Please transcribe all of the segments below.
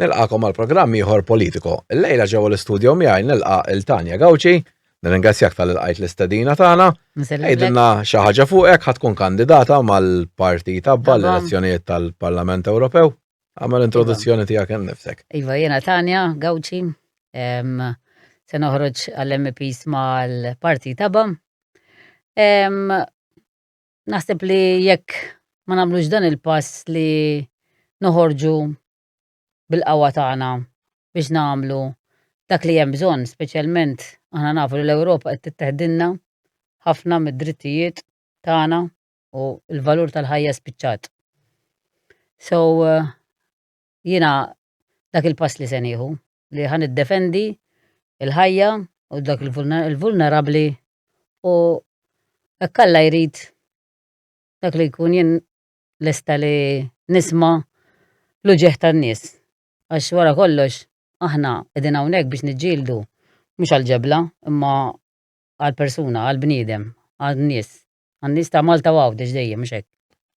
Nilqakom għal programm ieħor Politico. Illejla ġewwa l-istudjo miegħi nilqa' il Tanja Gawċi, nirringrazzjak tal lqajt l-istedina tagħna. Għidilna xi ħaġa fuqek ħad tkun kandidata mal-partit tabba l-elezzjonijiet tal-Parlament Ewropew. Għamel iva. introduzzjoni tiegħek innifsek. Iva jiena Tanja Gawċi, se noħroġ għall-MPs mal-partit tabba. Naħseb li jekk ma nagħmlux dan il-pass li noħorġu bil-qawwa tagħna biex nagħmlu dak li hemm bżonn, speċjalment aħna nafu li l-Ewropa qed titteħdilna ħafna mid-drittijiet tagħna u l-valur tal-ħajja spiċċat. So eh, jiena dak il-pass li se nieħu li ħan iddefendi il-ħajja u dak il-vulnerabbli u hekk Alla jrid dak li jkun jien lesta li nisma' l-uġigħ tan-nies. Għax wara kollox aħna qegħdin hawnhekk biex niġġieldu mhux għall-ġebla imma għall-persuna, għall-bniedem, għan-nies. Għan-nies ta' Malta u Għawdex dejjem, mhux hekk?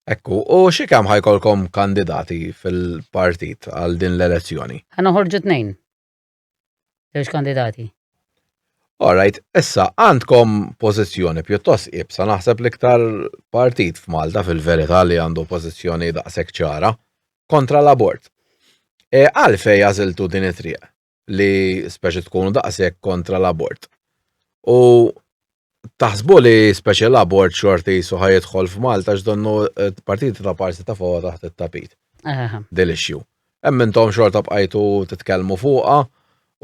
Hekk hu. U xi kemm ħa jkollkom kandidati fil-partit għal din l-elezzjoni? Ħa noħorġu tnejn. Żewġ kandidati. All right, issa għandkom pożizzjoni pjuttost ibsa naħseb l-iktar partit f'Malta fil-verità li għandu pożizzjoni daqshekk ċara kontra l-abort. E, għalfej għażiltu din it-triq li speċi tkunu daqshekk kontra l-abort. U Taħsbu li speċi l-abort xorti jisu ħajedħol f'Malta x'donnu eh, partiti ta' parsi ta' fawa taħt it-tapit. Delixxju. Hemm intom xorta bqajtu titkellmu fuqha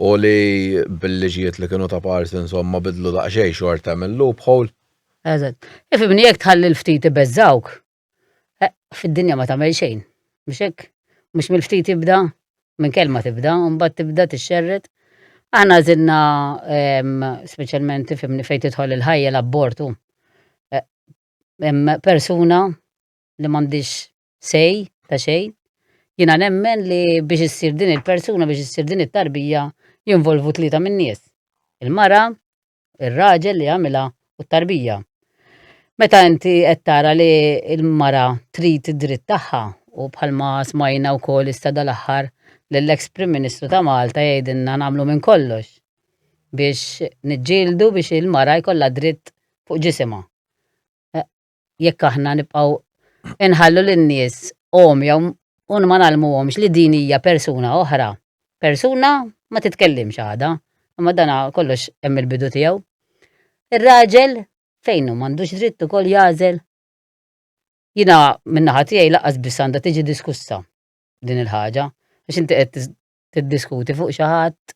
u li bil-liġijiet li kienu ta' parsi insomma bidlu daqsxejn xorta mill loophole. Eżatt. Ifimni jekk tħalli l-ftit ibeżżawk. Eh, fid-dinja ma tagħmel xejn. Mhux hekk? Mhux mill-ftit tibda, minn kelma tibda, u mbagħad tibda tixxerred. Aħna żinna ehm, speċjalment tifhimni fejn tidħol il-ħajja l-abortu. Eh, hemm persuna li m'għandix sej ta' xejn. Jiena nemmen li biex issir din il-persuna, biex issir din it-tarbija, jinvolvu tlieta min-nies. Il-mara, ir-raġel li għamilha u t-tarbija. Meta inti qed tara li l-mara trid id-dritt tagħha u bħalma smajna wkoll issa dal-aħħar lill-eks Prim Ministru ta' Malta jgħidilna nagħmlu minn kollox biex niġġieldu biex il-mara jkollha dritt fuq ġisimha. jekk aħna nibqgħu inħallu lin-nies għomja u ma nagħlmuhomx li din hija persuna oħra. Persuna ma titkellimx għada, imma dan kollox hemm il-bidu tiegħu. Ir-raġel fejn hu m'għandux dritt ukoll jagħżel. Jiena min-naħa tiegħi laqas biss għandha tiġi diskussa din il-ħaġa, għax inti qed tiddiskuti fuq xi ħadd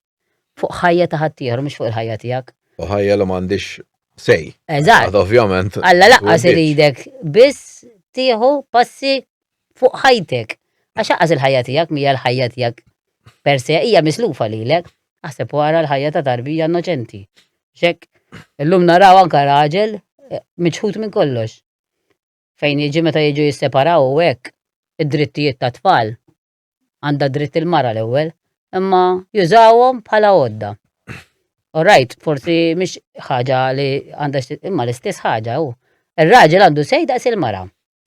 fuq ħajja ta' ħaddieħor mhux fuq il-ħajja tiegħek. U ħajja li m'għandix sej. Eżatt. Ovvjament. Alla laqqas iridek biss tieħu passi fuq ħajtek. Għax aqqas il-ħajja tiegħek mija l-ħajja tiegħek per se hija mislufa lilek. Aħseb wara l-ħajja ta' tarbija innoċenti. Xek, illum naraw anka raġel eh, miċħut minn kollox. Fejn jiġi meta jiġu jisseparaw u hekk id-drittijiet ta' tfal għandha dritt il-mara l-ewwel, imma jużawhom bħala għodda. U rajt, forsi mhix ħaġa li għandha imma l-istess ħaġa hu. Ir-raġel għandu sej daqs il-mara.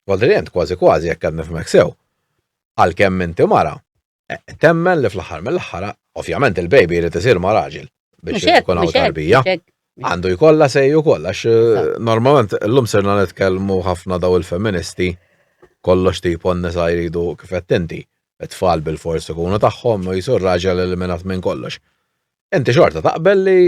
Għodrient kważi kważi jekk qed nifhmek sew. Għalkemm inti mara, eh, temmen li fl-aħħar mill-aħħar, ovvjament il-baby jrid isir ma' raġel. biex ikun hawn tarbija. Għandu jkollha sejju kollha għax eh, normalment llum serna nitkellmu ħafna daw il-feministi kollox tip nisa jridu kif qed inti. Tfal bil-fors ikunu tagħhom u jisur raġel eliminat minn kollox. Inti xorta taqbel li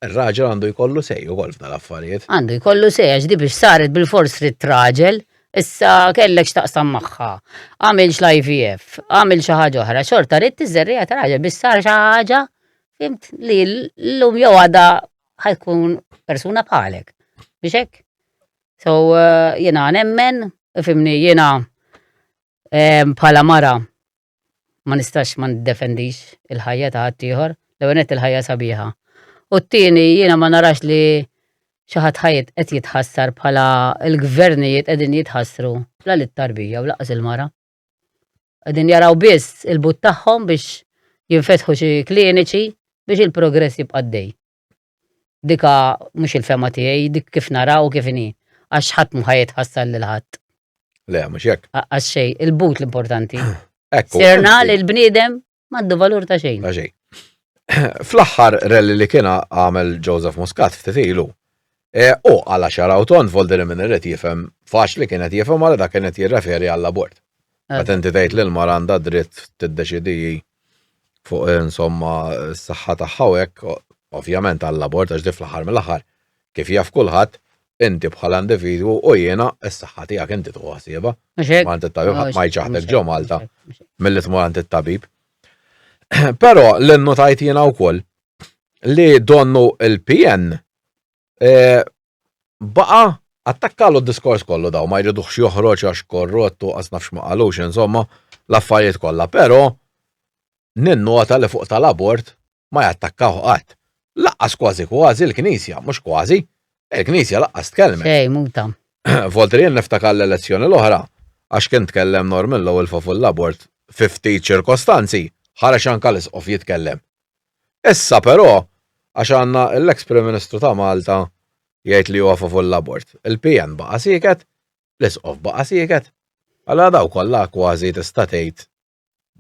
r-raġel għandu jkollu sej ukoll f'dan l-affarijiet. Għandu jkollu sej għax di biex saret bil-fors li t-raġel issa kellek x'taqsam magħha. Għamilx l-IVF, għamil xi ħaġa oħra, xorta rid tiżerrija ta' raġel biex sar xi ħaġa Fimt li l-lum jew għada ħajkun persuna bħalek. Biex hekk? So eh, jiena nemmen, fimni jiena eh, bħala mara ma nistax ma niddefendix il-ħajja ta' ħaddieħor, l-ewwel il-ħajja sabiħa. U t-tieni jiena ma narax li xi ħadd ħajt qed jitħassar bħala l-gvernijiet qegħdin jitħassru la lit-tarbija u laqas il-mara. Qegħdin jaraw biss il-but tagħhom biex jinfetħu xi kliniċi biex il-progress jibqa' għaddej. Dika mhux il-fema tiegħi, dik kif naraw kif inhi, għax ħadd mhu ħajjet ħassal lil ħadd. Le, mhux hekk. Għax xejn, il-but l-importanti. Serna li l-bniedem Maddu valur ta' xejn. Ta' xejn. Fl-aħħar rally li kiena għamel Joseph Muscat ftit ilu. E, u għala xaraw ton volder minn irrid jifhem faċ li kienet jifhem għal dak kienet jirreferi għall abort. Eh. Għat inti tgħid li l-mara għandha dritt tiddeċidi fuq insomma s-saħħa tagħha hekk ovvjament għall abort għax di fl-aħħar mill-aħħar Kif jaf kulħadd, inti bħala individwu u jiena s-saħħa tiegħek inti tieħu ħsiebha. Mhux hekk? Mant it-tabib ħadd ma jċaħdek ġo Malta milli tmur għand it-tabib. Però li nnotajt jiena wkoll li donnu il-PN e, baqa attakkalu d-diskors kollu daw ma jridux joħroġ għax korrottu għas nafx ma qalux insomma l-affarijiet kollha, però ninnota li fuq tal-abort ma jattakkawh qatt. Laqqas kważi kważi l-Knisja, mhux kważi, il-Knisja laqqas tkellmet. Xejn, muta. Voltrien niftakar l-elezzjoni l-oħra, għax kien tkellem Norman Lowell favur l-abort fi ftit ċirkostanzi, ħareġ anke l-Isqof jitkellem. Issa però, għax għandna l-eks Prim Ministru ta' Malta jgħid li huwa favur l-abort, il-PN baqa' sieket, l-Isqof baqa' sieket. Allura daw kollha kważi tista' tgħid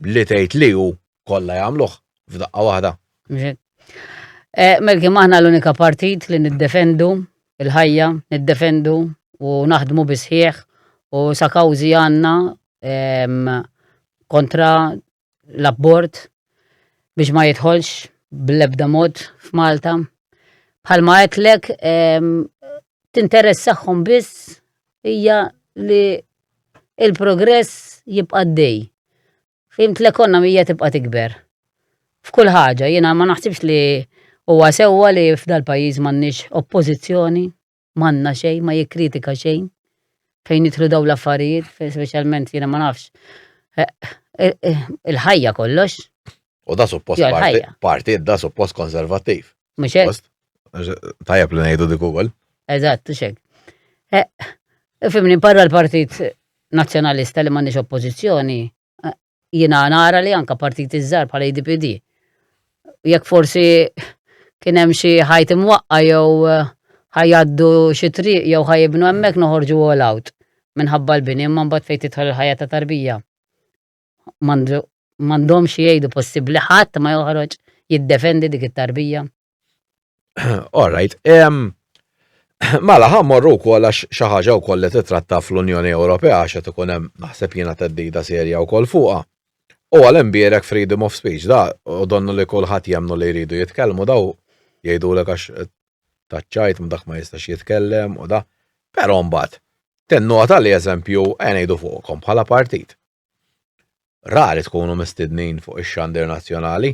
li tgħid li hu kollha jagħmluh f'daqqa waħda. Eh, Melki maħna l-unika partit li niddefendu il-ħajja, niddefendu u naħdmu bisħieħ u sa kawzi għanna kontra l-abbord biex ma jitħolx bl-ebda mod f'Malta. Bħalma għetlek tinteressahom biss hija li il-progress jibqa' dej. Fimt l-ekonomija tibqa' tikber. F'kull ħaġa, jiena ma naħsibx li huwa sewwa li f'dal-pajjiż m'għandniex oppożizzjoni, m'għandna xejn, ma jikkritika xejn. Fejn jidħlu dawn l-affarijiet, speċjalment jiena ma nafx. Eh, eh, eh, il-ħajja kollox. U da suppost parti, da suppost konservattiv. Mhux Tajab li ngħidu dik ukoll. Eżatt, xek. Eh, fimni barra l-Partit Nazzjonalista li m'għandix oppożizzjoni, eh, jiena nara li anka partit iżżar bħala IDPD. E Jekk forsi kien hemm xi ħajt imwaqqa jew eh, ħajaddu xi triq jew ħajibnu hemmhekk noħorġu all out minħabba l-bini imma mbagħad fejn tidħol il-ħajja ta' tarbija. m'għandhomx jgħidu possibbli ħadd ma joħroġ jiddefendi dik it-tarbija. All right. Mela ħa morru wkoll għax xi ħaġa wkoll li titratta fl-Unjoni Ewropea għax qed ikun hemm naħseb jiena teddida serja wkoll fuqha. U għal imbierek freedom of speech da u donnu li kulħadd jemnu li jridu jitkellmu daw jgħidulek għax taċċajt ma dak ma jistax jitkellem u da. Però mbagħad tennota li eżempju ngħidu fuqkom bħala partit. Rari tkunu mistednin fuq ix-xandir nazzjonali,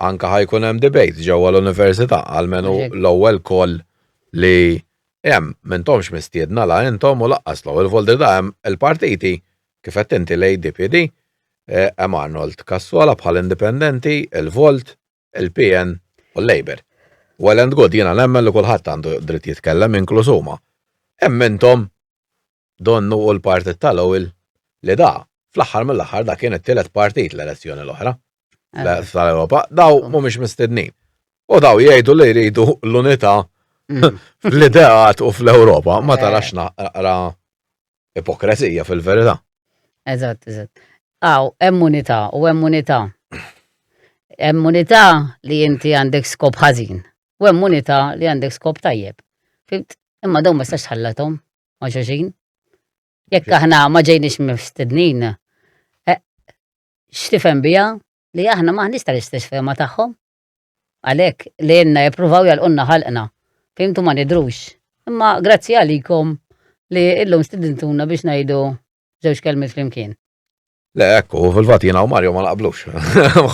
anka ħajkun hemm debate ġewwa l-università għalmenu l-ewwel koll li hemm m'intomx mistiedna la intom u laqqas l-ewwel voldi da hemm il-partiti kif qed inti l-ADPD, hemm Arnold Cassola bħal indipendenti, il-Volt, il-PN u l-Labour. Well and good, jiena nemmen li kulħadd għandu dritt jitkellem, inkluż huma. Hemm intom donnu u l-partit ta' Lowell li da, fl-aħħar mill-aħħar da kien it-tielet partit l-elezzjoni l-oħra tal-Ewropa, daw mhumiex mistednin. U daw jgħidu li jridu l-unità fl-ideat u fl-Ewropa, ma tarax naqra Ipokrezija fil-verità. Eżatt, eżatt. Aw, hemm unità u hemm unità. Hemm unità li inti għandek skop ħażin u hemm unità li għandek skop tajjeb. Fimt? Imma dawn ma stax tħallathom ma' xoxin. Jekk aħna ma ġejniex mistednin, eh, x'tifhem biha li aħna ma nista' l-istess fehma tagħhom. Għalhekk, lilna jippruvaw jagħlqulna ħalqna, fhimtu ma nidhrux. Imma grazzi għalikom li illum stidintuna biex ngħidu żewġ kelmiet flimkien. Le, ekku, fil-fat jina u Mario ma naqblux.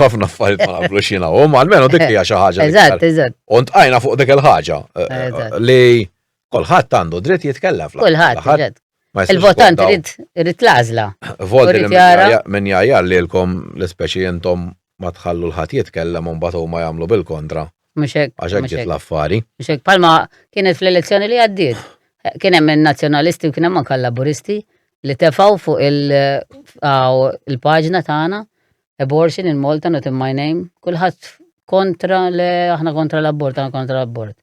ħafna affarijiet ma naqblux jina u, ma almenu dik hija xi ħaġa. Eżatt, eżatt. Unt għajna fuq dik il-ħaġa eh, li Kulħadd għandu dritt jitkellem fl Kulħadd, il-votant irid l-għażla. Volti minn jgħajjar lilkom l-ispeċi intom ma tħallu l-ħadd jitkellem u mbagħad huma jagħmlu bil-kontra. Mhux hekk. Għax hekk ġiet l-affari. Mhux hekk palma kienet fl-elezzjoni li għaddiet. Kien hemm in-nazzjonalisti u kien hemm anke laburisti li tefgħu fuq il-paġna tagħna abortion in Malta not in my name, kulħadd kontra le aħna kontra l-abort, aħna kontra l-abort.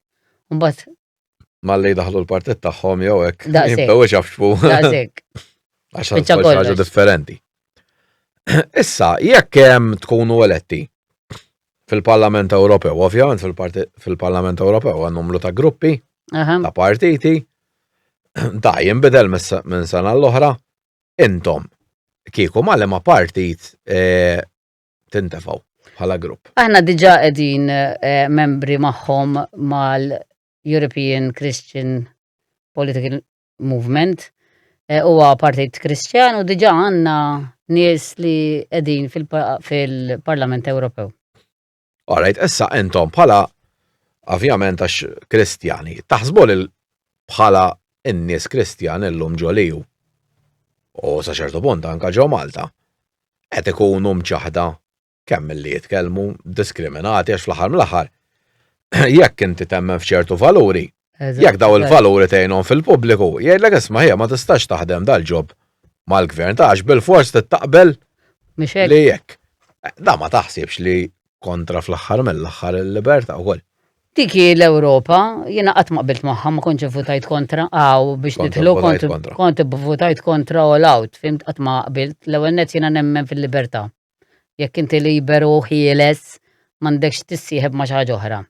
Mbagħad Malli daħlu l-partit tagħhom jew hekk. Jibdew ixafxfu. Daqsek. Għax ħaġa differenti. Issa, jekk hemm tkunu eletti fil-Parlament Ewropew, ovvjament fil-Parlament Ewropew għan numru ta' gruppi, ta' partiti, da' jimbidel minn sena l-oħra, intom, kieku ma' ma' partit eh, tintefgħu bħala grupp. Aħna diġa qegħdin eh, membri magħhom mal-European Christian Political Movement eh, huwa partit Kristjan u diġa għandna nies li qegħdin fil-Parlament Ewropew. Alright, issa intom bħala ovvjament għax Kristjani, taħsbu li bħala n-nies Kristjan illum ġoliju u sa ċertu punt anka ġew Malta. qed ikunu mċaħħda kemm milli jitkellmu, diskriminati għax fl-aħħar mill-aħħar jekk inti temmen f'ċertu valuri, jekk dawn il-valuri tgħinhom fil-pubbliku, jgħidlek isma' ħija ma tistax taħdem dal-ġob mal-gvern ta' għax bil-fors tittaqbel li jekk. Da ma taħsibx li kontra fl-aħħar mill-aħħar il-libertà wkoll. Dik hi l-Ewropa, jiena qatt ma qbilt magħha, ma kontx ivvutajt kontra, aw biex Kont nidħlu ivvutajt kont kontra. kont ivvutajt kontra all out, fimt qatt ma qbilt. L-ewwel nett jiena nemmen fil-libertà. Jekk inti liberu u ħieles, m'għandekx tissieħeb ma' xi ħaġa oħra.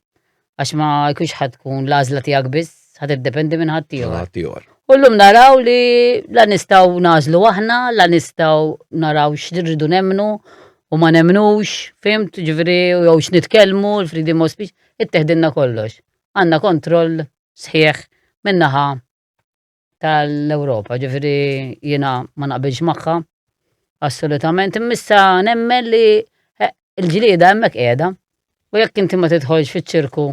Għax ma jkunx ħadd tkun l-għażla tiegħek biss, ħa tiddependi minn ħadd Minn ieħor. ħadd ieħor. U llum naraw li la nistgħu nagħżlu aħna, la nistgħu naraw x'irridu nemmnu, u ma nemnux, fimt, ġviri, u jew x'nitkellmu, l-freedom of speech, itteħdilna kollox. Għanna kontroll sħiħ minnaħa tal-Ewropa, ġviri jina ma naqbilx magħha, assolutament, immissa nemmen li eh, il-ġlieda hemmhekk qiegħda. U jekk inti ma tidħolx fiċ-ċirku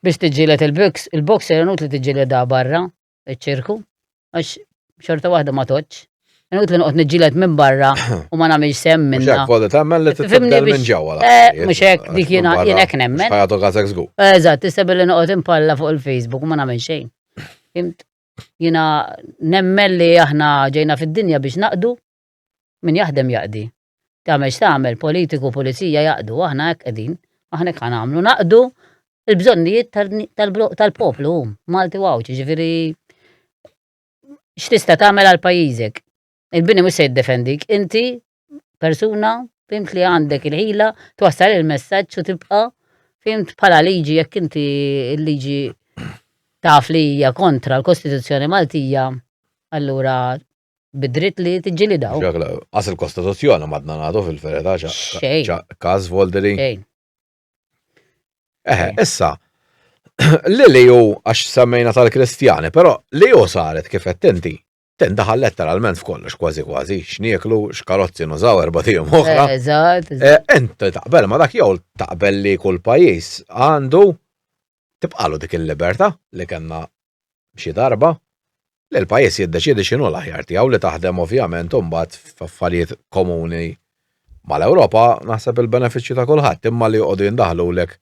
biex tiġġieled il-box, il-boxer inut li tiġġieled barra, iċ-ċirku, għax xorta waħda ma toċ. Nut li noqgħod niġġieled minn barra u ma nagħmilx sem minn. Mhux voli tagħmel li tibda minn ġewwa. Eh, mhux hekk dik jiena jien hekk nemmen. Ħajatu għazek żgur. Eżatt, tista' billi noqgħod impalla fuq il-Facebook u ma nagħmel xejn. Jiena nemmen li aħna ġejna fid-dinja biex naqdu Min jaħdem jaqdi. Tagħmel x'tagħmel, politiku, pulizija jaqdu, aħna hekk qegħdin, aħna hekk ħanamlu, naqdu il-bżonnijiet tal-poplu, Malti u Għawdxi, ġifieri x'tista' tagħmel għal pajjiżek. Il-bini mhux se jiddefendik, inti persuna fimt li għandek il-ħila twassal il-messaġġ u tibqa' fimt bħala liġi jekk inti l-liġi taf li hija kontra l-Kostituzzjoni Maltija, allura bid-dritt li tiġġilidaw. Għas il-Kostituzzjoni madna nagħtu fil-ferita ċa każ Volderi. Eħe, issa, li li ju għax semmejna tal-Kristjani, però li ju saret kif qed inti ten daħal letteralment f'kollox kważi kważi, x'nieklu, x'karozzi nużaw erba' tiegħu oħra. Eh, eżatt. Eh, ent taqbel ma dak jew taqbel li kull pajjiż għandu tibqalu dik il-libertà li kellna xi darba li l-pajjiż jiddeċiedi x'inhu l-aħjar tiegħu li taħdem ovvjament imbagħad f'affarijiet komuni mal-Ewropa naħseb il-benefiċċju ta' kulħadd imma li joqogħdu jindaħlulek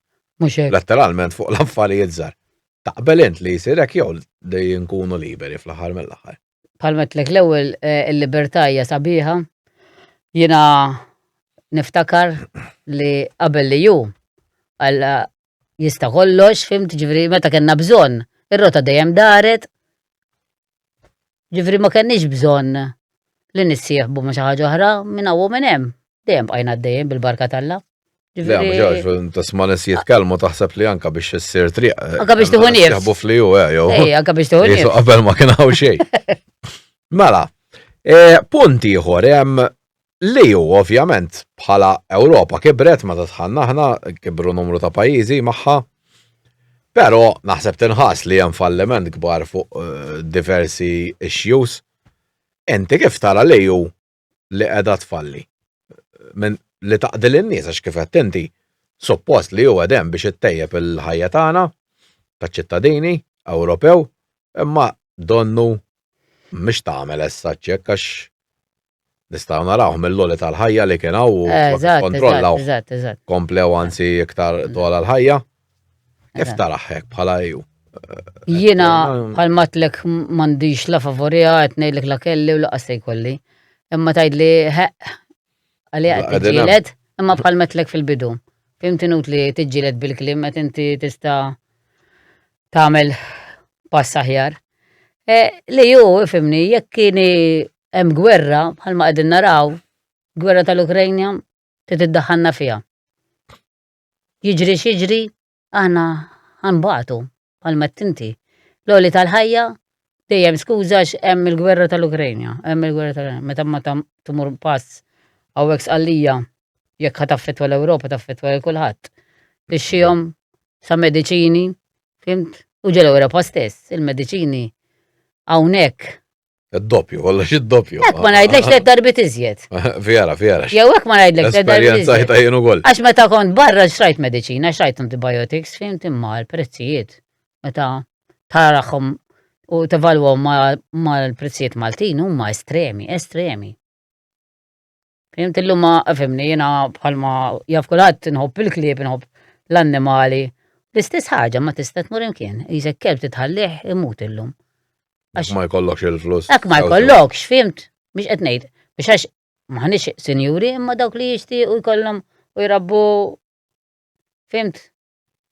letteralment fuq l-affarijiet żgħar. Taqbel int li jsir hekk jew li nkunu liberi fl-aħħar mill-aħħar? bħal metlek l-ewwel eh, il-libertà hija sabiħa. Jiena niftakar li qabel li ju għalla jista' kollox, fimt ġifri meta kellna bżonn, ir-rota dejjem daret. Ġifri ma kenniex bżonn li nissieħbu ma xi ħaġa oħra minn hawn minn hemm. Dejjem bqajna dejjem bil-barka tal-la. Le, mġaġ, tasma nis jitkalmu taħseb li anka biex s-sir triq. Eh, anka biex tuħu nif. Jaħbu fliju, eh, jow. Ej, anka biex tuħu nif. Qabel ma kien għaw xej. Mela, eh, punt ieħor hemm li ju ovvjament bħala Ewropa kibret ma tatħanna ħna kibru numru ta' pajjiżi magħha. Però naħseb tinħas li hemm falliment kbar fuq diversi issues. Enti kif tara li ju li qiegħda tfalli minn li taqdil in-nies għax kif qed inti suppost li huwa dem biex ittejjeb il-ħajja tagħna taċ-ċittadini Ewropew imma donnu mhix tagħmel essa ċekk għax nistgħu narawh mill-loli tal-ħajja li kien hawn u kontrollaw komplew anzi iktar dola l-ħajja. Kif taraħek bħala ju? Jina bħal matlek mandiġ la favorija qed ngħidlek la kelli u la qasej kolli. Imma tgħidli ħeq għalija qed tiġġieled, imma bħal matlek fil-bidu. Fimti nut li tiġġieled bil-klim qed inti tista' tagħmel pass aħjar. E, li ju, fimni, jekk kieni hemm gwerra bħalma qegħdin naraw, gwerra tal-Ukrajna trid iddaħħalna fiha. Jiġri x'jiġri, aħna ħa nbatu, bħalma għedt inti. L-għoli tal-ħajja dejjem skuża għax hemm il-gwerra tal-Ukrajna, hemm il-gwerra tal-Ukrajna. Meta ma tmur pass hawnhekk sqallija jekk ħa taffettwa l-Ewropa taffettwa lil kulħadd. Tixxihom sa mediċini, fimt? U ġol-Ewropa stess, il-mediċini hawnhekk Id-doppju, kollox id-doppju. Ek ma najdlek li darbit iżjed. Fjara, fjara. Jew ek ma najdlek li darbit iżjed. Esperjenza jien ukoll. Għax meta kont barra xrajt medicina, xrajt antibiotics, fim timma l-prezzijiet. Meta taraħom u tevalwaw ma l-prezzijiet Maltin huma estremi, estremi. Fimt illum ma fimni jiena bħalma jaf kulħadd inħobb il-klieb, inħobb l-annimali. L-istess ħaġa ma tista' tmur imkien, jisek kelb titħallih imut illum. Għax ma jkollokx il-flus. Għax ma jkollokx, fimt, biex qed ngħid. Biex għax maħniex sinjuri imma dawk li jixtiequ jkollhom u jrabbu fimt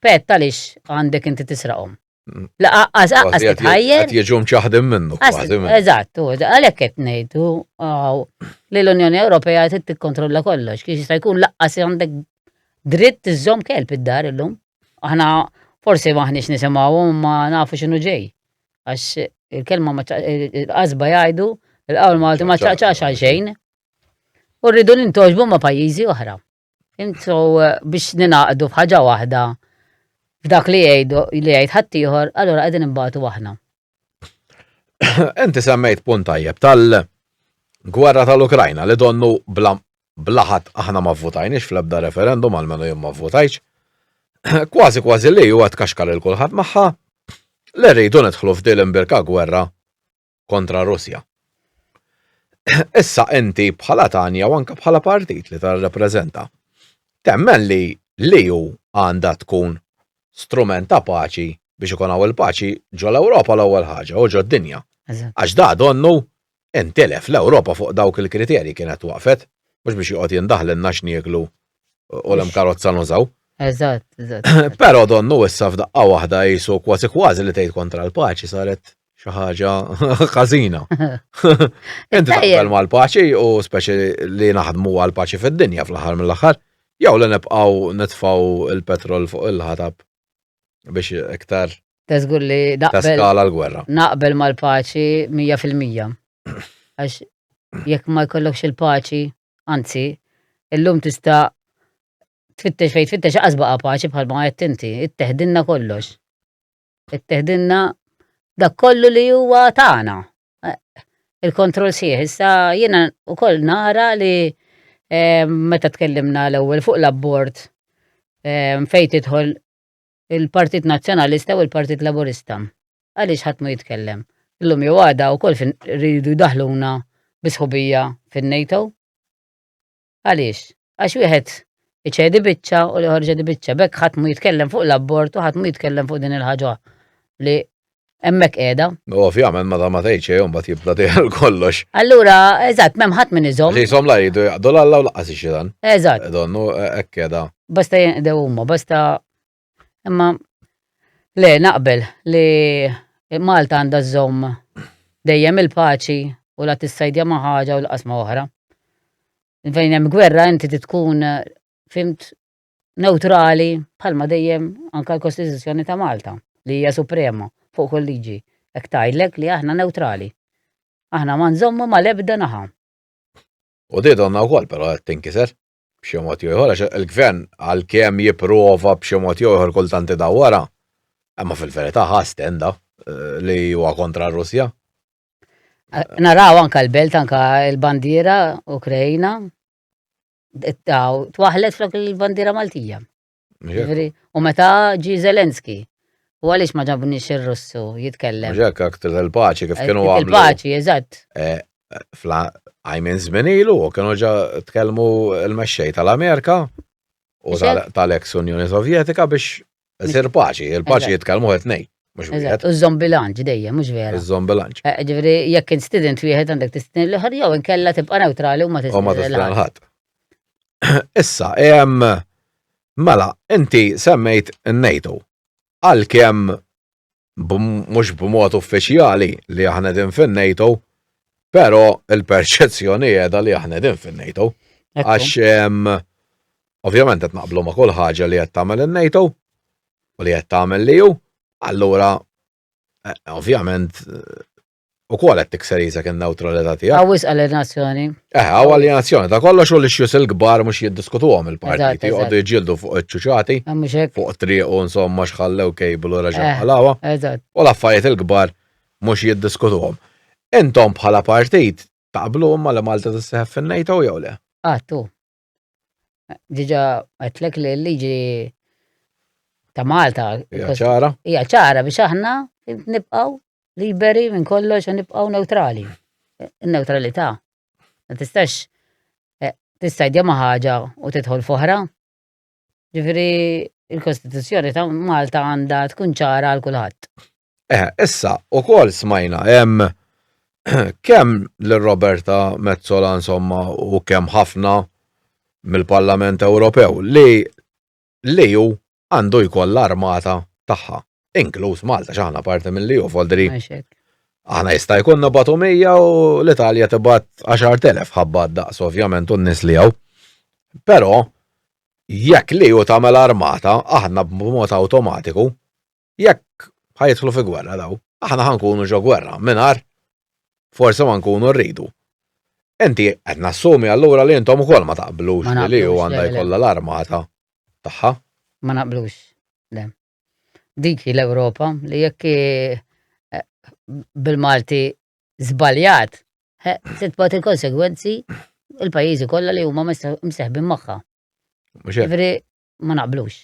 Pet, għaliex għandek inti tisraqhom? Mm. La aqqas aqqas titħajjer. Qed jiġu mċaħdim minnu kważi. Eżatt, għalhekk qed ngħidu li l-Unjoni Ewropea trid tikkontrolla kollox, kiex jista' jkun laqqas għandek dritt tiżżomm kelb id-dar illum. Aħna forsi maħniex nisimgħu ma nafu x'inhu ġej. Għax il-kelma ma qasba jgħidu il-qawl Malti ma ċaqċax għal xejn. U rridu nintoġbu ma' pajjiżi oħra. Intu eh, biex ninaqdu bħaġa waħda f'dak li jgħidu li jgħid ħaddieħor, allura qegħdin imbagħtu aħna. Inti semmejt punt tajjeb tal-gwerra tal-Ukrajna li donnu bla blaħat aħna ma votajniex fl-ebda referendum għal menu jom ma votajx. Kważi kważi li huwa tkaxkar il kulħadd magħha li rridu nidħlu f'dil imbirka gwerra kontra Russja. Issa inti bħala Tanja u anke bħala partit li tirrepreżenta temmen li li hu għandha tkun strument ta' paċi biex ikun hawn il-paċi ġol Ewropa l-ewwel ħaġa u ġo dinja. Għax da donnu intilef l-Ewropa fuq dawk il-kriterji kienet waqfet mhux biex joqgħod jindaħlilna x'nieklu u l karozza nużaw. Eżatt, eżatt. Però donnu issa f'daqqa waħda jisu kważi kważi li tgħid kontra l-paċi saret xi ħaġa ħażina. Inti taqbel mal-paċi u speċi li naħdmu għal-paċi fid-dinja fl-aħħar mill-aħħar, jew li nibqgħu nitfgħu il-petrol fuq il-ħatab biex iktar Teżgur li naqbel. l-gwerra. Naqbel mal-paċi 100%. Għax jekk ma jkollokx il-paċi, anzi, illum tista' tfittex fejn tfittex aqas baqa' paċi bħal ma qed inti, it-teħdinna kollox. Itteħdilna dak kollu li huwa tagħna. Il-kontroll sieħ, issa jiena wkoll nara li meta tkellimna l-ewwel fuq l-abbord fejn tidħol il-Partit Nazzjonalista u l-Partit Laburista. Għaliex ħadd ma jitkellem. Illum jew għada wkoll rridu daħluna bisħubija fin-NATO. Għaliex? Għax wieħed iċedi biċċa u li ħorġa di biċċa. Bekk ħadd mu jitkellem fuq l-abort u ħadd mu jitkellem fuq din il-ħaġa li hemmhekk qiegħda. Ovvjament meta ma tgħid xejn mbagħad jibda tgħid kollox. Allura, eżatt, m'hemm ħadd min iżomm. Li jsom la jgħidu jaqdu l-alla u laqas ix-xitan. Eżatt. Donnu hekk qiegħda. Basta jinqdew huma, basta Imma le naqbel li Malta għandha żomm dejjem il-paċi u la tissajdja ma' ħaġa u l-qasma oħra. Fejn hemm gwerra inti tkun fimt neutrali bħalma dejjem anka l-Kostituzzjoni ta' Malta li hija suprema fuq kull liġi. Ek tajlek li aħna neutrali. Aħna ma nżommu ma lebda naħa. U di donna wkoll però qed tinkiser. b'xi mod jew ieħor, il-gvern għalkemm jipprova b'xi mod jew ieħor kultant idawwara, imma fil-verità ħass tenda eh, li huwa kontra r-Russja. Eh, naraw anka l-belt anka l-bandiera Ukraina twaħlet flok il-bandiera Maltija. U meta ġi Zelenski, u għaliex ma ġabniex ir-Russu jitkellem. Ġek, aktar tal-paċi kif kienu għamlu. Il-paċi, eżatt. Eh, fla għajmin zminilu, u kienu ġa tkellmu l-mexxej tal-Amerika u tal-ex Unjoni Sovjetika biex zir paċi, il-paċi jitkellmu għet nej. Eżatt, u zombi lanċ dejjem, mux vera. Zombi lanċ. Eh, ġivri, jekk instident wieħed għandek tistident l-ħar jew inkella tibqa neutrali u ma tistident l-ħar. Issa, jem, mela, inti semmejt n-NATO. Għal kem, mux b'mod uffiċjali li aħna din fin-NATO, pero il-perċezzjoni edha li aħna din fin-NATO. Għax, ovvjament, għet naqblu ma' kull ħaġa li għet tamel il-NATO, u li għet tamel li ju, allura, eh, ovvjament, U kol qed tikser jisek in-newtralità tiegħek. Hawn wisq alienazzjoni. Eh, hawn alienazzjoni ta' kollox u li xjus il-kbar mhux jiddiskutuhom il-partiti, jqogħdu jġildu fuq iċ-ċuċati, fuq triq u insomma xħallew kejbel u reġgħu eh, għalawha. U l-affarijiet il-kbar mhux jiddiskutuhom. Intom bħala partit taqblu imma li Malta tissieħeb fin-NATO jew le? Għattu. Ah, Diġa għetlek li l-liġi ta' Malta. Hija ċara. Hija ċara biex aħna nibqaw liberi minn kollox u nibqaw neutrali. Neutralità. Ma tistax eh, tista' jdema ħaġa u tidħol foħra. Ġifieri il-Kostituzzjoni ta' Malta għandha tkun ċara għal kulħadd. Eh, issa, u kol smajna, hemm kemm l-Roberta Mezzola insomma u kemm ħafna mill-Parlament Ewropew li li ju għandu jkoll l-armata tagħha. inkluż Malta x'aħna parti mill-EU foldri. Aħna jista' jkollna batu 100 u l-Italja tibgħat 10,000 ħabba daqs ovvjament u n-nies li hawn. Però jekk li hu tagħmel armata aħna b'mod awtomatiku jekk ħajtħlu fi gwerra daw, aħna ħankunu ġo gwerra mingħajr forsi ma nkunu rridu. Enti qed nassumi allura li intom ukoll ma taqblux li hu għandha jkollha l-armata tagħha. Ma naqblux. Dik hi l-Ewropa li jekk eh, bil-Malti żbaljat, se tbagħat il-konsegwenzi il-pajjiżi kollha li huma mseħbin magħha. Ġifieri ma naqblux.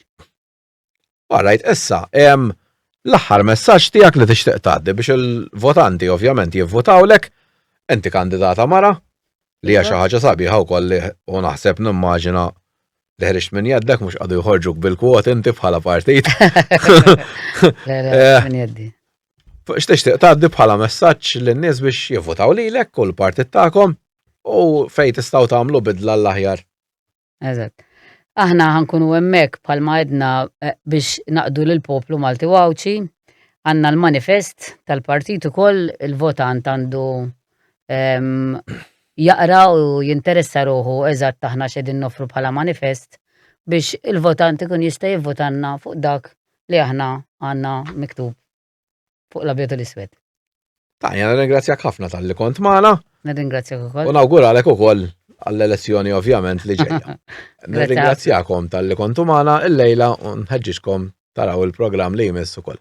Għalajt, issa, l-aħħar messaġġ tiegħek li tixtieq tgħaddi biex il-votanti ovvjament jivvotawlek, enti kandidata mara, li hija xi ħaġa sabiħa wkoll li u naħseb nimmaġina li ħriġt minn jaddek mhux qadu jħorġuk bil-kwot inti bħala partit. Eh, minn jaddi. X'tixtieq tgħaddi bħala messaġġ lin-nies biex jivvotaw lilek u l-partit tagħkom u fejn tistgħu tagħmlu bidla l-aħjar. Eżatt. Aħna ħankunu hemmhekk bħalma għedna eh, biex naqdu lil poplu Malti Wawċi għandna l-manifest tal-partit ukoll il-votant għandu jaqra u jinteressa ruħu eżatt aħna x'edin nofru bħala manifest biex il-votant ikun jista' jivvotanna fuq dak li aħna għandna miktub fuq l-abjadu l-iswed. Ta' jena ringrazzjak ħafna tal-li kont maħna. Nirringrazzjak ukoll. U nawguralek ukoll għall-elezzjoni ovvjament li ġejja. Nirringrazzjakom tal-li kontu maħna il-lejla u nħedġiġkom taraw il-program li jmiss ukoll.